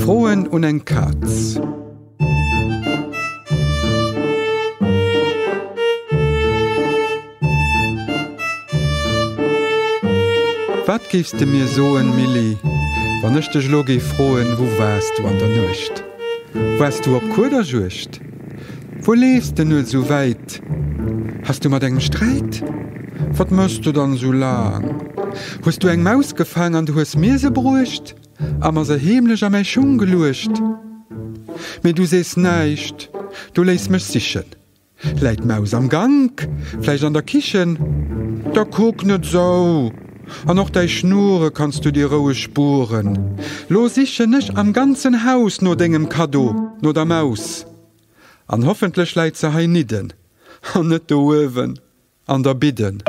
Froen un eng Katz. Wat géifs de mir soen, Milly, wann ech dech elo géif froen, Wou waars du an der Nuecht? Waars du op Kuederjuegd? Wou leefs de nur sou wäit? Has du mat engem Sträit? Wat mëss de dann sou laang? Hues du eng Maus gefaang an du hues mir se bruecht a mer se heemlech a mäi Schung geluecht? Mee du sees näischt, du léiss mech sichen. Läit d'Maus am Gank, vläicht an der Kichen? Da kuck net sou! An och däi Schnurre kanns du dir roueg spueren. Lo sichen ech am ganzen Haus no dengem Kaddo, no der Maus. An hoffentlech läit se heinidden an net do uewen an der Bidden.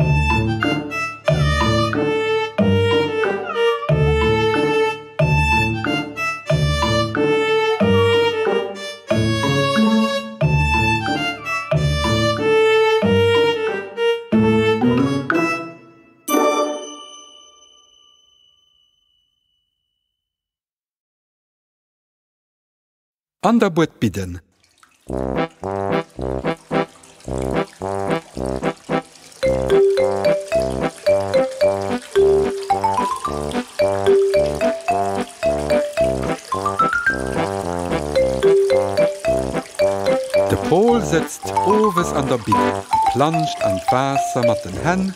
An der Buert bidden. De Paul sëtzt owes an der Bidden a planscht an d'Waasser mat den Hänn.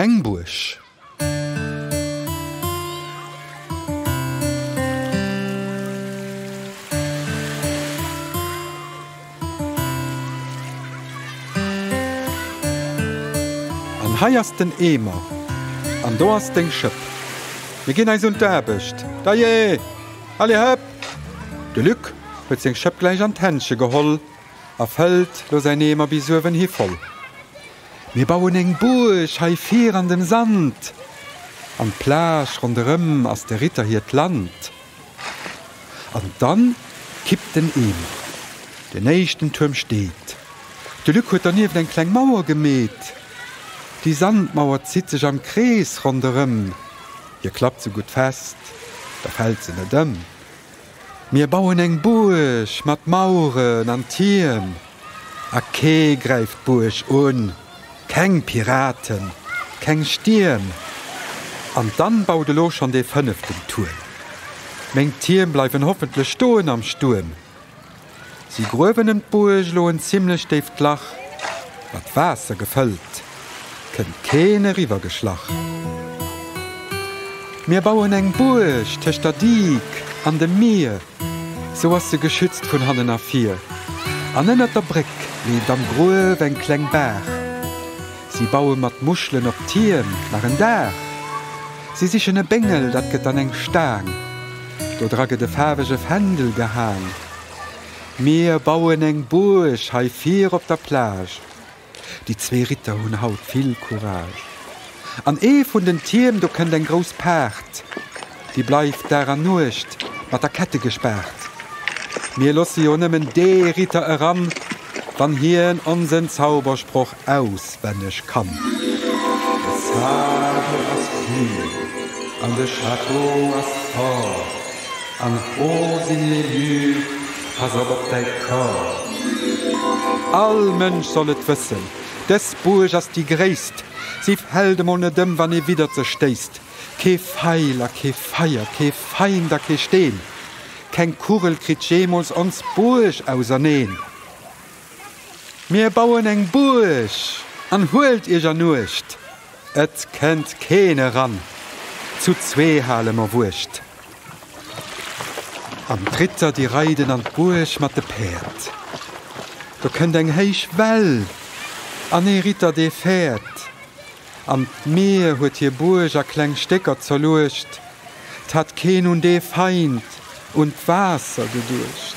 Eng Buerg. An hei ass den Eemer. An do ass deng Schëpp. Mir ginn eis un d'Aarbecht. Dajee! Allez, hëpp! De Luc huet seng Schëpp gläich an d'Händche geholl. a fëllt lo säin Eemer bis uewen hi voll. Mir bauen eng Buerg hei vir an dem Sand, an d'Plage ronderëm ass de Ritter hiert Land. An dann kippt den Eemer, den éischten Tuerm steet. De Luc huet donieft eng kleng Mauer gemeet. Déi Sandmauer zitt sech am Krees ronderëm, hie klappt se gutt fest, da fält se net ëm. Mir bauen eng Buerg mat Mauren an Tierm a kee gräift d'Buerg un, keng Piraten, keng Stierm. An dann baut elo schonn dee fënneften Tuerm. Meng Tierm bleiwen hoffentlech stoen am Stuerm. Si gruewen ëm d'Buerg elo en zimlech déift Lach, mat Waasser gefëllt, kënnt keen eriwwer geschlach. Mir bauen eng Buerg tëscht der Diek an dem Mier, sou ass se geschützt vun hannen a vir. An ënnert der Bréck leeft am Gruef eng kleng Baach. Si baue mat Muschelen op d'Tierm nach en Daach. Si sichen e Béngel, dat gëtt dann eng Staang. Do dra gëtt e faarwege Fändel gehaang. Mir bauen eng Buerg hei vir op der Plage. Déi zwee Ritter hunn haut vill Courage. An ee vun den Tierm do kënnt eng grouss Paart. Déi bleift Dag an Nuecht mat der Kette gespaart. Mir loosse jo nëmmen dee Ritter eran, wann hien onsen Zaubersproch auswenneg kann. De Sage ass vill an de Château ass fort, an Rose in les murs, pass op op däi Kor. All Mënsch soll et wëssen, dës Buerg ass déi gréisst, si fällt emol net ëm, wann ee widdert se stéisst. Kee Feil a kee Feier, kee Feind a kee Steen, keng Kugel kritt jeemools ons Buerg auserneen. Mir bauen eng Buerg an huelt iech an Uecht, et kennt keen eran, zu zwee hale mer Wuecht. An d'Ritter déi reiden an d'Buerg mat de Päerd, do kënnt eng héich Well an ee Ritter dee fäert an d'Mier huet hir Buerg a kleng Stécker zerluecht, 't hat keen un dee Feind, un d'Waasser geduecht.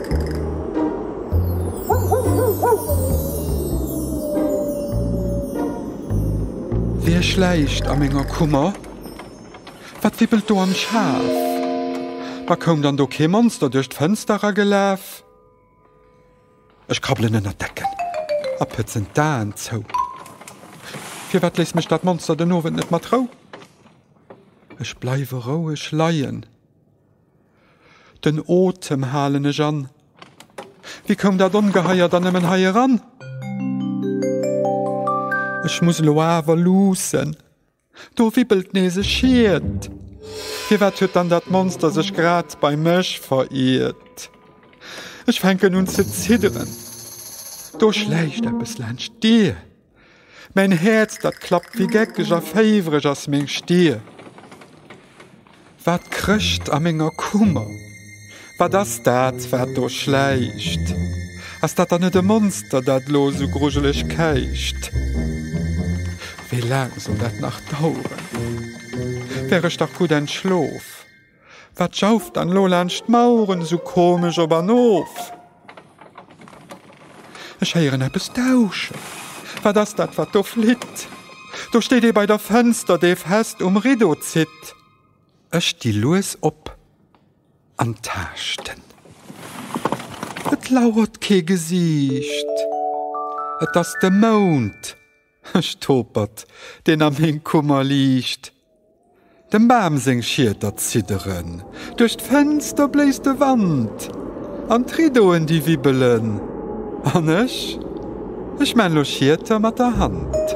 Wär schläicht a menger Kummer? Wat wibbelt do am Schaf? Ma koum dann do kee Monster duerch d'Fënster eragelaf? Ech krabbelen ënnert d'Decken a pëtzen d'Aen zou. Firwat léisst mech dat Monster den Owend net mat Rou? Ech bleiwe roueg leien. Den Otem halen ech an. Wéi koum dat Ongeheier dann nëmmen hei eran? Ech muss elo awer luussen. Do wibbelt nees e Schiet. Firwat huet dann dat Monster sech grad bei mech veriert? Ech fänken un ze zidderen. Do schläicht eppes laanscht d'Dier. Mäin Häerz dat klappt, wéi geckeg a féiwereg ass meng Stir. Wat krécht a menger Kummer? Wat ass dat, wat do schläicht? Ass dat dann net e Monster, dat lo sou grujeleg käicht? Wéi laang soll dat nach daueren? Wär ech dach gutt entschlof. Wat jauft dann elo laanscht d'Maueren esou komesch op an of? Ech héieren eppes dauschen. Wat ass dat, wat do flitt? Do steet ee bei der Fënster, dee fest um Rideau zitt. Ech sti lues op an taaschten. Et lauert kee Gesiicht. Et ass de Mound. Ech topert, deen a meng Kummer liicht. Dem Bam seng Schieter zidderen, duerch d'Fenster bléist de Wand an d'Riddoen déi wibbelen. An ech, ech maan lo Schieter mat der Hand.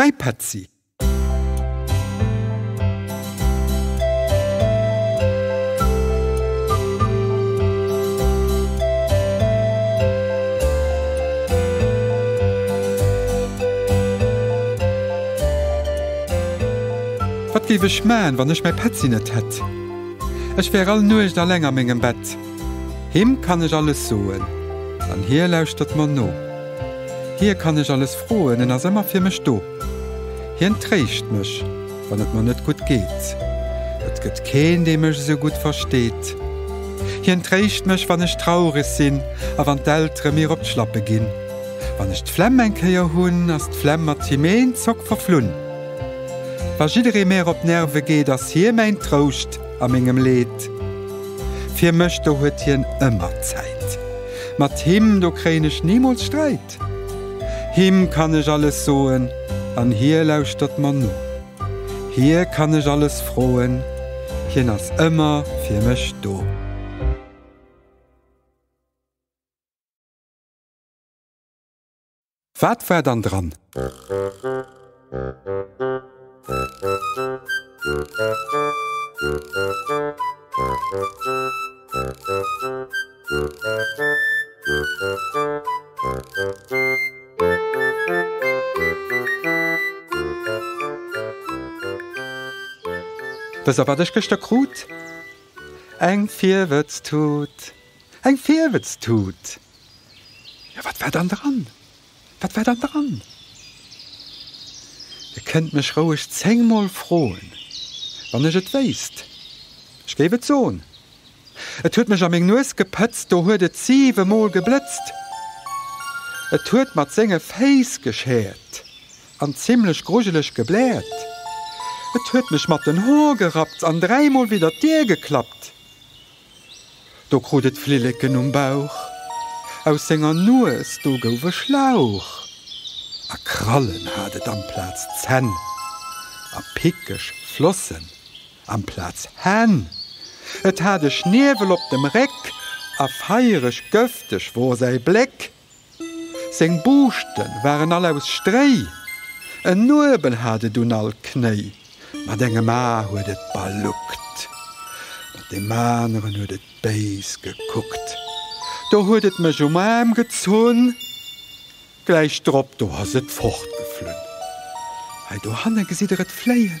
Mäi Petzi! Wat géif ech man wann ech mäi Petzi net hätt? Ech wär all Nuecht alleng a mengem Bett. Him kann ech alles soen, an hie lauschtert mer no. Hie kann ech alles froen, en ass ëmmer fir mech do. Hien tréischt mech, wann et mer net gutt geet. Et gëtt keen, dee mech esou gutt versteet. Hien tréischt mech, wann ech traureg sinn a wann d'Eltere mir op d'Schlappe ginn. Wann ech d'Flemm eng Kéier hunn, ass d'Flemm mat him een Zock verflunn. Wa jidderee mär op d'Nerve geet, ass hie mäin Trouscht. A mengem Leed. Fir mech, do huet hien ëmmer Zäit. Mat him, do kréien ech nimools Sträit. Him kann ech alles soen, an hie lauschtert mer no. Hie kann ech alles froen, hien ass ëmmer fir mech do. Wat war dann dran? Wëss der wat ech gëschter krut? Eng Virwëtztut! Eng Virwëtztut! Jo, wat war dann dran? Wat war dann dran? Dir kënnt mech roueg zéngmol froen, wann ech et wéisst, ech géif et soen. Et huet mech a meng Nues gepëtzt, do huet et siwemol geblëtzt. Et huet mat senge Féiss geschäert an zimlech grujeleg gebläert. Et huet mech mat den Hoer gerappt an dräimol widder d'Dier geklappt. Do krut et Flilleken um Bauch. Aus senger Nues do gouf e Schlauch. A Krallen hat et amplaz Zänn. A pickeg Flossen amplaz Hänn. Et hat e Schniewel op dem Réck. A feiereg, gëfteg wor säi Bléck. Seng Buuschten waren all aus Stréi. En Nuebel hat et un all Knéi. Mat engem A huet et baluckt. Mat deem aneren huet et béis gekuckt. Do huet et mech um Aarm gezunn. Gläich drop do ass et fortgeflunn. Hei dohanne gesitt der et fléien.